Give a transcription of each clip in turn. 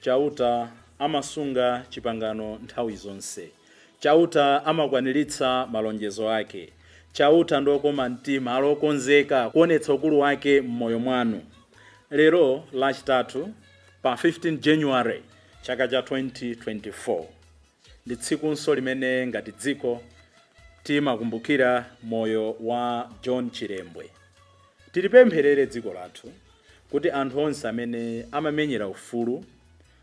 Chauta amasunga chipangano nthawi zonse. Chauta amakwaniritsa malonjezo ake. Chauta ndi okoma mtima, ali okonzeka kuonetsa ukulu wake m'moyo mwanu. Lero Lachitatu pa 15 January chaka cha 2024 ndi tsikunso limene ngati dziko timakumbukira moyo wa John Chilembwe. Tilipempherere dziko lathu kuti anthu onse amene amamenyera ufulu,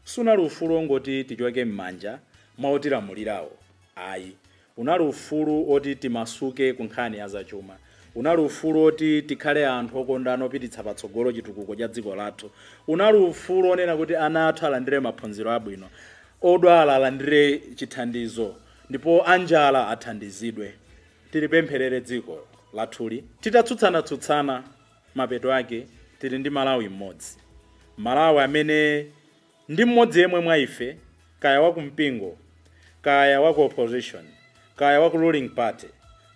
siunali ufulu ongoti tichoke mmanja mwa otilamulirawo ayi, unali ufulu oti timasuke ku nkhani ya zachuma, unali ufulu oti tikhale anthu okondana opititsa patsogolo chitukuko cha dziko lathu, unali ufulu onena kuti ana athu alandire maphunziro abwino, odwala alandire chithandizo ndipo anjala athandizidwe. tilipempherere dziko lathuli titatsutsana-tsutsana mapeto ake tili ndi Malawi m'modzi. Malawi amene ndi m'modzi yemwe mwa ife kaya wa ku mpingo kaya wa ku opposition kaya wa ku ruling party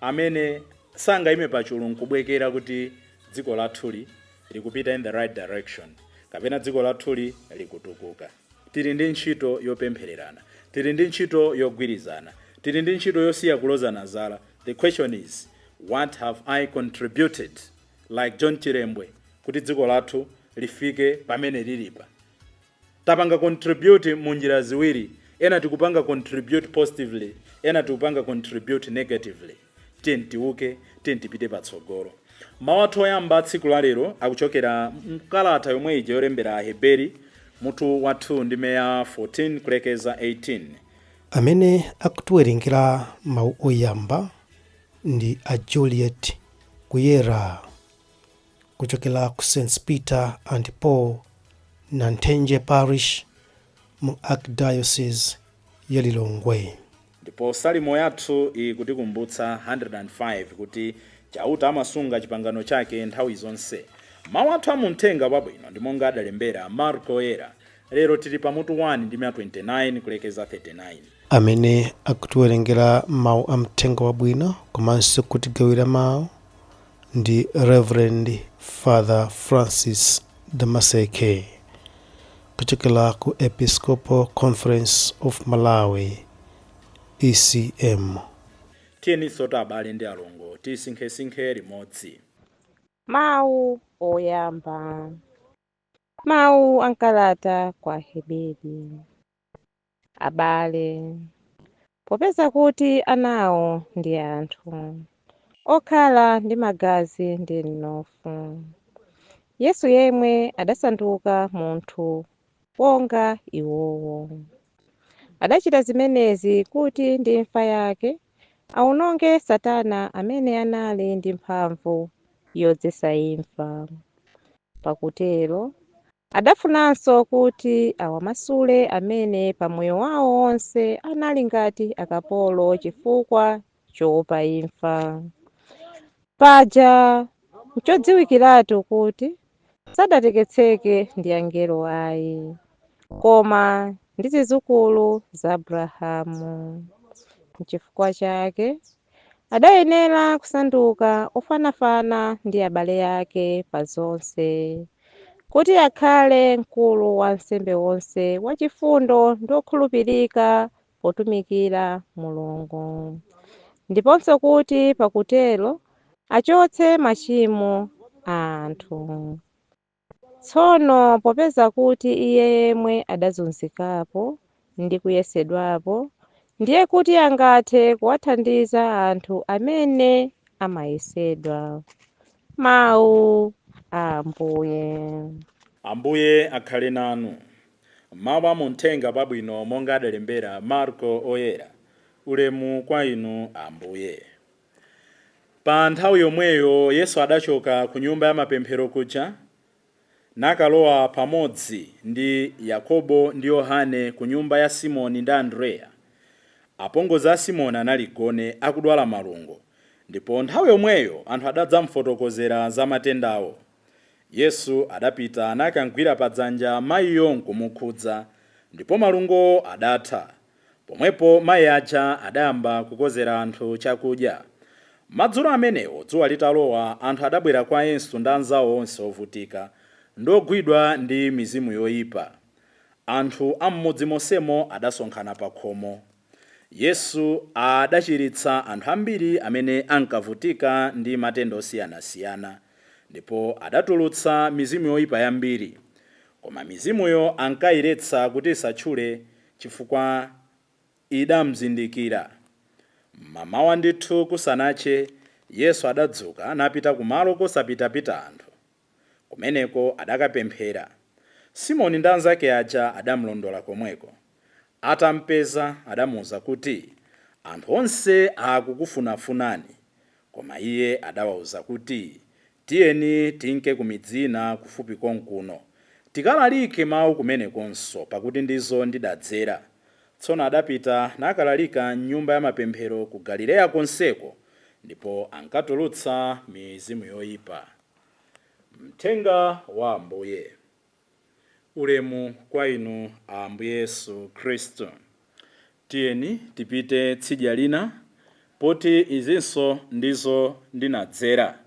amene sangayime pachulu nkubwekera kuti dziko lathuli likupita in the right direction kapena dziko lathuli likutukuka. Tili ndi ntchito yopemphererana. Tili ndi ntchito yogwirizana. Tili ndi ntchito yosiya kulozana zala. The question is, what have I contributed, like John Chilembwe, kuti dziko lathu lifike pamene lilipa? Tapanga contribute mu njira ziwiri, ena tikupanga contribute positively, ena tikupanga contribute negatively. Tiyeni tiuke, tiyeni tipite patsogolo. Mawu athu oyamba a tsiku la lero akuchokera m'kalata yomwe ija yolembera Aheberi mutu wa 2 ndime ya 14 kulekeza 18. Amene akutiwerengera mawu oyamba ndi a Juliet Kuyera kuchokera ku Ss. Peter and Paul Nathenje Parish mu Archdiocese ya Lilongwe. Ndipo Salimo yathu ikutikumbutsa, 105, kuti Chauta amasunga chipangano chake nthawi zonse. Mau athu a mu Mthenga Wabwino ndi monga adalembera Marko Woyera. Lero tili pa mutu 1, ndime ya 29 kulekeza 39. Amene akutiwerengera mau a Mthenga Wabwino komanso kutigawira mau ndi Rev. Father Francis Damaseke. kuchokera ku Episcopal Conference of Malawi, ECM. Tiyeninsotu abale ndi alongo tisinkhesinkhe limodzi. Mawu oyamba. Mawu a m'kalata kwa Aheberi. Abale, popeza kuti anawo ndi anthu okhala ndi magazi ndi mnofu, Yesu yemwe adasanduka munthu wonga iwowo. Adachita zimenezi kuti ndi imfa yake aononge Satana amene anali ndi mphamvu yodzetsa imfa. Pakutero Adafunanso kuti awamasule amene pa moyo wao wonse anali ngati akapolo chifukwa choopa imfa. Paja nchodziwikiratu kuti sadateketseke ndi angelo ai, koma ndi zidzukulu za Abrahamu. Nchifukwa chake Adayenera kusanduka ofanafana ndi abale ake pa zonse, kuti akhale mkulu wa ansembe onse wachifundo ndi okhulupirika potumikira Mulungu, ndiponso kuti pakutero achotse machimo a anthu. Tsono popeza kuti iye yemwe adazunzikapo ndi kuyesedwapo, ndiye kuti angathe kuwathandiza anthu amene amayesedwa. Mau a Ambuye. Ambuye akhale nanu. Mau a mu Mthenga wabwino monga adalembera Marko Oyera. Ulemu kwa Inu Ambuye. Pa nthawi yomweyo Yesu adachoka ku nyumba yamapemphero kuja, nakalowa pamodzi ndi Yakobo ndi Yohane ku nyumba ya Simoni ndi Andrea. Apongozi a Simoni anali gone akudwala malungo, ndipo nthawi yomweyo anthu adadzamfotokozera za matendawo. Yesu adapita nakamgwira pa dzanja maiyo nkumukhudza, ndipo malungowo adatha. Pomwepo mai aja adayamba kukonzera anthu chakudya. Madzulo amenewo dzuwa litalowa, anthu adabwera kwa Yesu ndi anzawo onse ovutika ndi ogwidwa ndi mizimu yoyipa. Anthu a m'mudzi monsemo adasonkhana pakhomo. Yesu adachiritsa anthu ambiri amene ankavutika ndi matenda osiyanasiyana, ndipo adatulutsa mizimu yoyipa yambiri. Koma mizimuyo ankayiletsa kuti isatchule chifukwa idamzindikira. M'mamawa ndithu kusanache, Yesu adadzuka napita kumalo kosapitapita anthu. Kumeneko adakapemphera. Simoni ndi anzake aja adamlondola komweko. Atampeza, adamuuza kuti, Anthu onse akukufunafunani. Koma iye adawauza kuti, Tiyeni tinke ku midzi ina kufupi konkuno, tikalalike mau kumenekonso, pakuti ndizo ndidadzera. Tsono adapita nakalalika m'nyumba yamapemphero ku Galileya konseko, ndipo ankatulutsa mizimu yoipa. Mthenga wa Ambuye. Ulemu kwa Inu, Ambuye Yesu Khristu. Tiyeni tipite tsidya lina, poti izinso ndizo ndinadzera.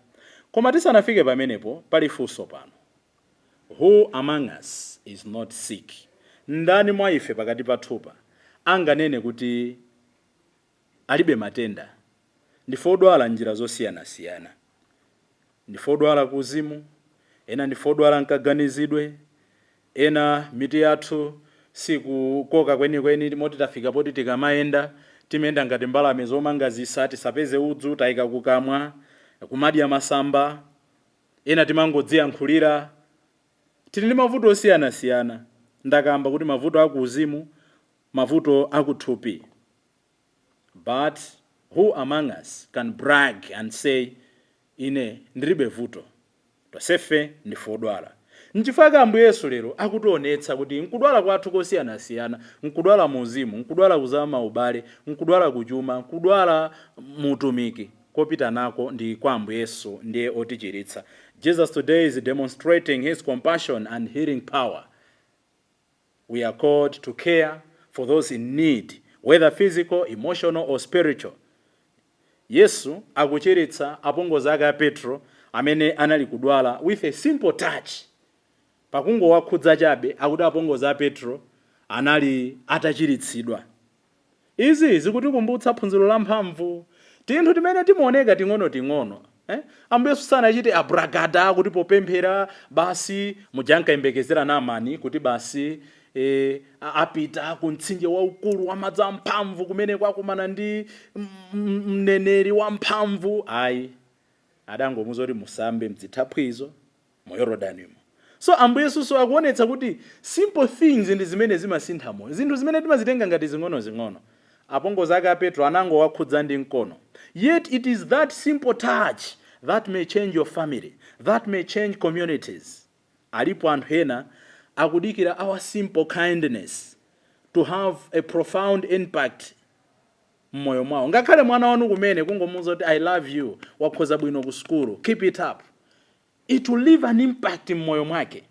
Koma tisanafike pamenepo, pali funso pano, Who among us is not sick? Ndani mwa ife pakati pathu pano anganene kuti alibe matenda. Ndife odwala m'njira zosiyanasiyana. Ndife odwala kuuzimu, ena ndife odwala m'kaganizidwe, ena mitu yathu siikukoka kwenikweni moti tafika poti tikamayenda timayenda ngati mbalame zomanga zisa, tisapeze udzu taika kukamwa, kumadya masamba, ena timangodziyankhulira. Tili ndi mavuto osiyanasiyana. Ndakamba kuti mavuto a kuuzimu mavuto akuthupi but who among us can brag and say ine ndilibe vuto? Tonsefe ndife odwala. Nchifukwa chake Ambuye Yesu lero akutionetsa kuti mkudwala kwathu kosiyanasiyana, mkudwala mu uzimu, mkudwala ku za maubale, mkudwala ku chuma, mkudwala mu utumiki, kopita nako ndi kwa Ambuye Yesu ndiye otichiritsa. Jesus today is demonstrating his compassion and healing power. We are called to care for those in need, whether physical, emotional, or spiritual. Yesu akuchiritsa apongozi ake a Petro amene anali kudwala with a simple touch. Pakungowakhudza chabe, akuti apongozi a Petro anali atachiritsidwa. Izi zikutikumbutsa phunziro la mphamvu. Tinthu timene timaoneka ting'onoting'ono, Ambuye Yesu sanachite abragada kuti popemphera basi muja ankayembekezera Naamani kuti basi apita ku mtsinje waukulu wa madzi amphamvu kumene kwakumana ndi mneneri wamphamvu. Ayi, adangomuuza kuti musambe m'zithaphwizo mu Yorodanimo. So, Ambuye Yesunso akuonetsa kuti simple things ndi zimene zimasintha moyo. Zinthu zimene timazitenga ngati zing'onozing'ono. Apongozi ake a Petro anangowakhudza ndi mkono. Yet it is that simple touch that may change your family, that may change communities. Alipo anthu ena akudikira our simple kindness to have a profound impact m'moyo mwawo. Ngakhale mwana wanu kumene kungomuuza kuti I love you, wakhoza bwino ku sukulu, keep it up. It will leave an impact mmoyo mwake.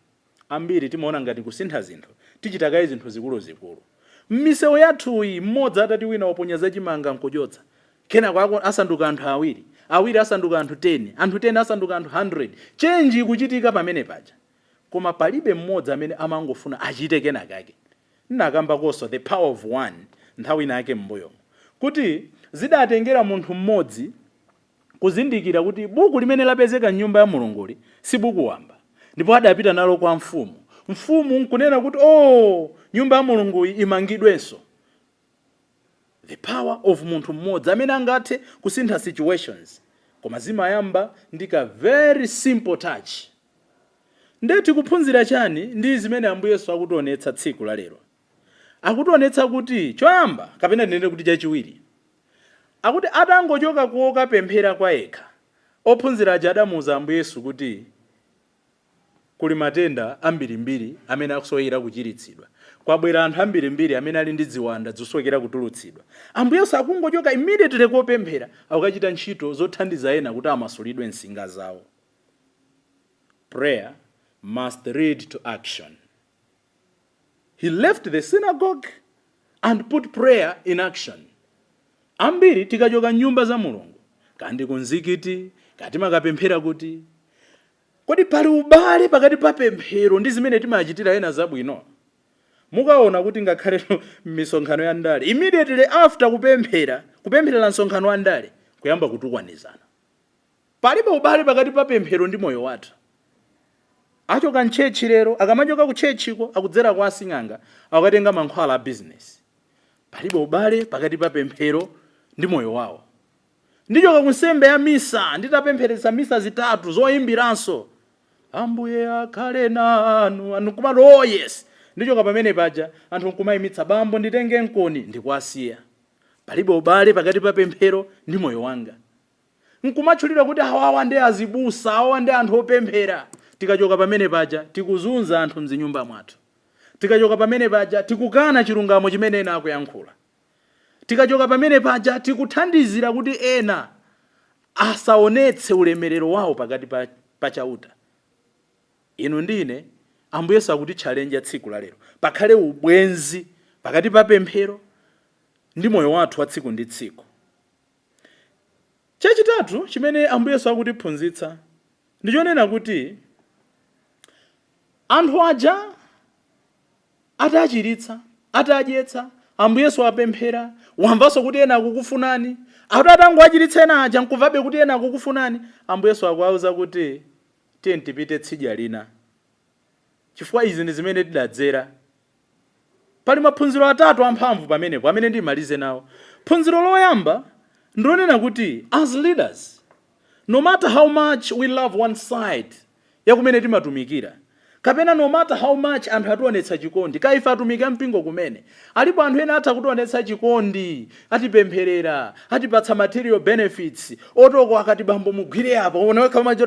Ambiri timaona ngati kusintha zinthu tichita kaye zinthu zikuluzikulu. Mmisewu yathuyi mmodzi atati wina waponya za chimanga nkuchotsa, kenako asanduka anthu awiri, awiri asanduka anthu 10, anthu 10 asanduka anthu 100, change ikuchitika pamene paja. Koma palibe mmodzi amene amangofuna achite kenakake. Nnakambakonso, the power of one, nthawi ina yake mmbuyomu. Kuti zidatengera munthu mmodzi. kuzindikira kuti buku limene lapezeka m'Nyumba ya Mulunguli si buku wamba, ndipo adapita nalo kwa mfumu. Mfumu nkunena kuti, Oo! Nyumba ya Mulunguyi imangidwenso. The power of munthu mmodzi amene angathe kusintha situations koma zimayamba ndi ka very simple touch. Nde tikuphunzira chani ndi zimene Ambuye Yesu akutionetsa tsiku la lero? Akutionetsa kuti choyamba kapena tinene kuti chachiwiri. akuti atangochoka kokapemphera kwayekha, ophunzira aja adamuuza Ambuye Yesu kuti kuli matenda ambirimbiri amene akusowekera kuchiritsidwa. Kwabwera anthu ambirimbiri amene ali ndi ziwanda zosowekera kutulutsidwa. Ambuye Yesu akungochoka immediately kopemphera akukachita ntchito zothandiza ena kuti amasulidwe nsinga zawo. Prayer must lead to action. He left the synagogue and put prayer in action. Ambiri tikachoka m'nyumba za Mulungu, kaya ndi kumzikiti, kaya timakapemphera kuti, kodi pali ubale pakati pa pemphero ndi zimene timachitira ena zabwino? Mukaona kuti ngakhale m'misonkhano ya ndale, immediately after kupemphera, kupempherera msonkhano wa ndale, kuyamba kutukwanizana. Palibe ubale pakati pa pemphero ndi moyo wathu. Achoka m'church lero, akamachoka ku church ko akudzera kwa asing'anga akukatenga mankhwala a business. Palibe ubale pakati pa pemphero ndi moyo wawo. Ndichoka ku nsembe ya misa nditapempheretsa misa zitatu zoimbiranso Ambuye akhale nanu, anthu nkumati oh yes! Ndichoka pamene paja anthu nkumaimitsa bambo nditengenkoni ndikuwasiya. Palibe ubale pakati pa pemphero ndi moyo wanga. nkumatchulira kuti awawa ndi azibusa, awawa ndi anthu opemphera. Tikachoka pamene paja tikuzunza anthu mzinyumba mwathu. Tikachoka pamene paja tikukana chilungamo chimene ena akuyankhula. Tikachoka pamene paja tikuthandizira kuti ena asaonetse ulemerero wawo pakati pa Chauta. Inu ndi ine Ambuye Yesu akutitchalenja tsiku la lero. Pakhale ubwenzi pakati pa pemphero ndi moyo wathu wa tsiku ndi tsiku. Chachitatu chimene Ambuye Yesu akutiphunzitsa ndi chonena kuti anthu aja atachiritsa, atadyetsa, Ambuye Yesu wapemphera, wamvanso kuti ena akukufunani. Akuti atangowachiritsa ena aja n'kumvabe kuti ena akukufunani, Ambuye Yesu akuwauza kuti, Tiyeni tipite tsidya lina. chifukwa izi ndi zimene tidadzera. Pali maphunziro atatu amphamvu pamenepo amene ndimalize nawo. Phunziro loyamba ndi lonena kuti as leaders, no matter how much we love one side ya kumene timatumikira, kapena no matter how much anthu ationetsa chikondi, kaya ife atumiki a mpingo kumene, alipo anthu ena atha kutionetsa chikondi, atipempherera, atipatsa material benefits, oti oko akati bambo mugwire apa, uone wekha umati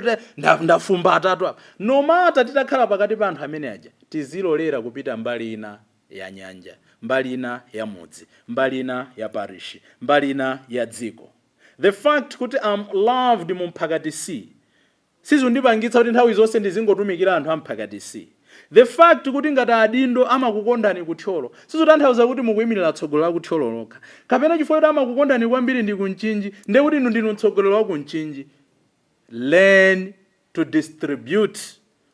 ndafumbatatu apa. No matter titakhala pakati pa anthu amene aja, tizilolera kupita mbali ina ya nyanja, mbali ina ya mudzi, mbali ina ya parishi, mbali ina ya dziko. The fact kuti I'm loved mu mphakati sizindipangitsa kuti nthawi zonse ndizingotumikira anthu a mphakati. The fact kuti ngati adindo amakukondani ku Thyolo sizutanthauza kuti mukuimirira tsogolo la ku Thyolo lokha. Kapena chifukwa choti amakukondani kwambiri ndi ku Mchinji ndekuti inu ndinu mtsogoleri wa ku Mchinji. Learn to distribute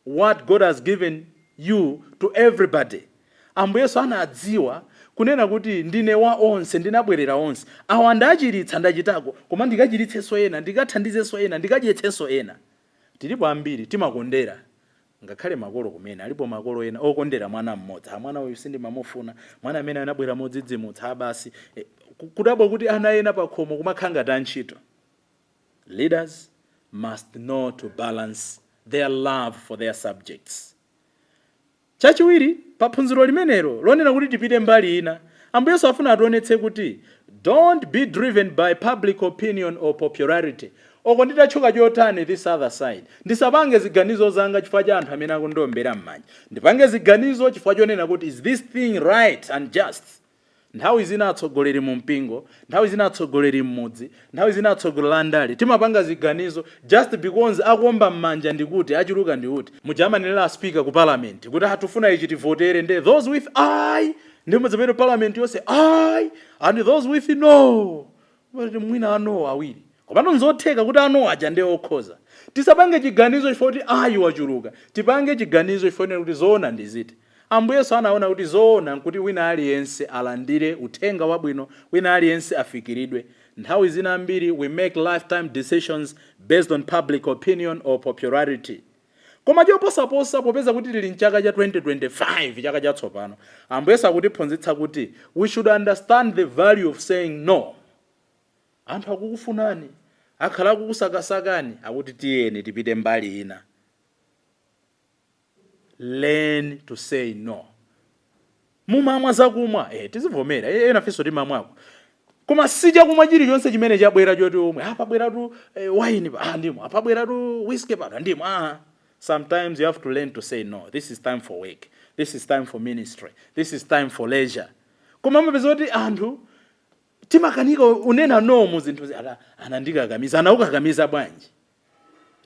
what God has given you to everybody. Ambuye Yesu anadziwa kunena kuti ndine wa onse, ndinabwerera onse. Awa ndachiritsa, ndachitako, koma ndikachiritsenso ena, ndikathandizenso ena, ndikadyetsenso ena. Tilipo ambiri timakondera ngakhale makolo kumene. Alipo makolo ena okondera mwana mmodzi. Ha, mwana uyu sindimamufuna, mwana amene anabwera modzidzimutsa, ha basi. E, kudabwa kuti ana ena pakhomo kumakhala ngati antchito. Leaders must know to balance their love for their subjects. Chachiwiri, pa phunziro limenelo lonena kuti tipite mbali ina, Ambuye Yesu afuna ationetse kuti don't be driven by public opinion or popularity, oko nditatchuka chotani this other side. Ndisapange ziganizo zanga chifukwa cha anthu amene akundiombera mmanja. Ndipange ziganizo chifukwa chonena kuti is this thing right and just? Nthawi zina atsogoleri mu mpingo, nthawi zina atsogoleri mmudzi, nthawi zina atsoglreli andale timapanga ziganizo just because akuomba mmanja ndi kuti achuluka ndi kuti. Muja amanenera a speaker ku parliament kuti ah tufuna ichi tivotere nde those with aye! Nde mudzapeze parliament yonse aye! And those with no! Kuti mwina a no-wo awiri. Komatu nzotheka kuti a no-wo aja nde okhoza. Tisapange chiganizo chifukwa kuti aye wachuluka. Tipange chiganizo chifukwa chonena kuti zoona ndi ziti. Ambuye Yesu anaona kuti zoona nkuti wina aliyense alandire uthenga wabwino, wina aliyense afikiridwe. Nthawi zina ambiri we make lifetime decisions based on public opinion or popularity. Koma choposaposa, popeza kuti tili m'chaka cha 2025, chaka chatsopano, Ambuye Yesu akutiphunzitsa kuti we should understand the value of saying no. Anthu akukufunani, akhala akukusakasakani, akuti tiyeni tipite mbali ina. Learn to say no. Mumamwa zakumwa ee tizivomera ee enafenso timamwako koma sichakumwa chilichonse chimene chabwera choti umwe aa pabweratu wine apa aa ndimwa pabweratu whiskey pano ndimwa aa sometimes you have to learn to say no this is time for work this is time for ministry this is time for leisure koma umapeza kuti anthu timakanika kunena no mu zinthuzi aa anandikakamiza anakukakamiza bwanji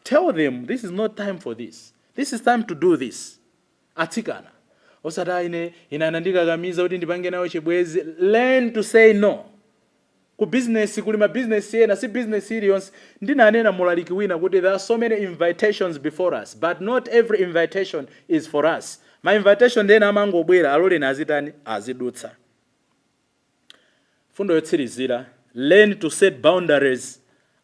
tell them this is not time for this this is time to do this. Atsikana, osati ayi ine, ine anandikakamiza kuti ndipange nawo chibwenzi, learn to say no. Ku bizinesi kuli mabizinesi ena, si bizinesi iliyonse. Ndinanena mu ulaliki wina kuti there are so many invitations before us, but not every invitation is for us. Ma invitation ena amangobwera, aloleni azitani? Azidutsa. Mfundo yotsirizira, Learn to set boundaries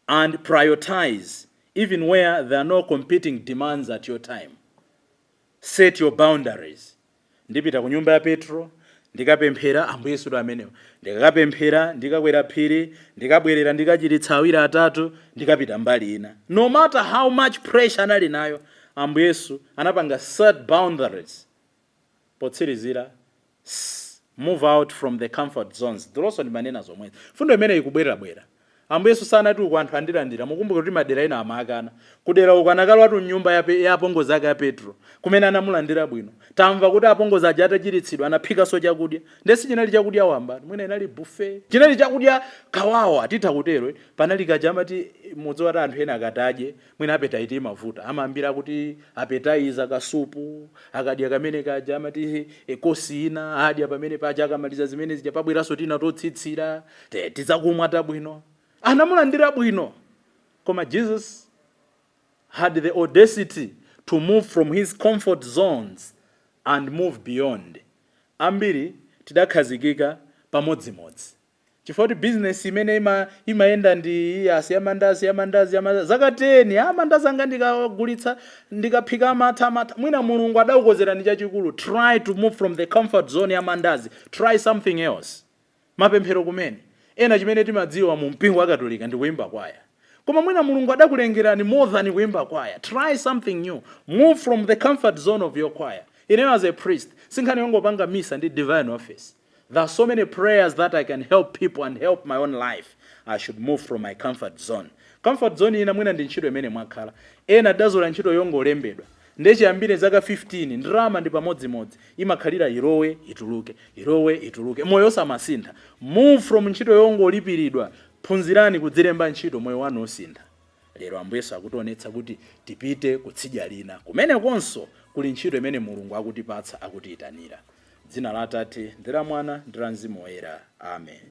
and prioritize even where there are no competing demands at your time. Set your boundaries. Ndipita ku nyumba ya Petro, ndikapemphera Ambuye Yesu amenewo. Ndikapemphera, ndikakwera phiri, ndikabwerera ndikachiritsa awiri atatu, ndikapita mbali ina. No matter how much pressure anali nayo, Ambuye Yesu anapanga set boundaries. Potsirizira, S, Move out from the comfort zones. Dzulonso ndimanena zomwezi. Mfundo imeneyi ikubwerabwera. Ambuye Yesu sanati uku anthu andilandira. Mukumbukire kuti madera ena amamukana. Kudera uku anakalowatu mnyumba ya Pe, ya apongozi ake a Petro, kumene anamulandira bwino. Tamva kuti apongozi aja atachiritsidwa anaphikanso chakudya. Ndiye sichinali chakudya wambatu. Mwina inali buffet. Chinali chakudya kawawa, titha kutero. Panali kaja amati, mudziwa kuti anthu ena akati adye, Mwina appetite imavuta, amayambira kuti appetizer, kasupu, akadya kamene kaja amati course ina adya pamene paja akamaliza zimene zija pabweranso tina totsitsira, tizakumwa tabwino. Anamulandira bwino! Koma Jesus had the audacity to move from his comfort zones and move beyond. Ambiri tidakhazikika pamodzimodzi. Chifukwa kuti business imene imayenda ndi yasi ya mandazi ya mandazi ya mandazi zaka 10 a mandazi anga ndikawagulitsa ndikaphika amatha amatha mwina Mulungu adakukonzerani chachikulu try to move from the comfort zone ya mandazi try something else mapemphero kumene ena chimene timadziwa mu mpingo wa Katolika ndi kuimba kwaya koma mwina Mulungu adakulengerani more than kuimba kwaya try something new move from the comfort zone of your choir ineyo as a priest sinkhani yongopanga misa ndi divine office there are so many prayers that I can help people and help my own life I should move from my comfort zone comfort zone ina mwina ndi ntchito imene mwakhala ena tidazolowera ntchito yongolembedwa ndiye chiyambire zaka 15 ndalama ndi pamodzimodzi imakhalira ilowe ituluke ilowe ituluke moyo osamasintha move from ntchito yongolipiridwa phunzirani kudzilemba ntchito moyo wanu osintha Lero Ambuye Yesu akutionetsa kuti tipite ku tsidya lina. Kumenekonso kuli ntchito imene Mulungu akutipatsa, akutiyitanira. Dzina la Atate, ndi la Mwana, ndi la Mzimu Woyera. Amen.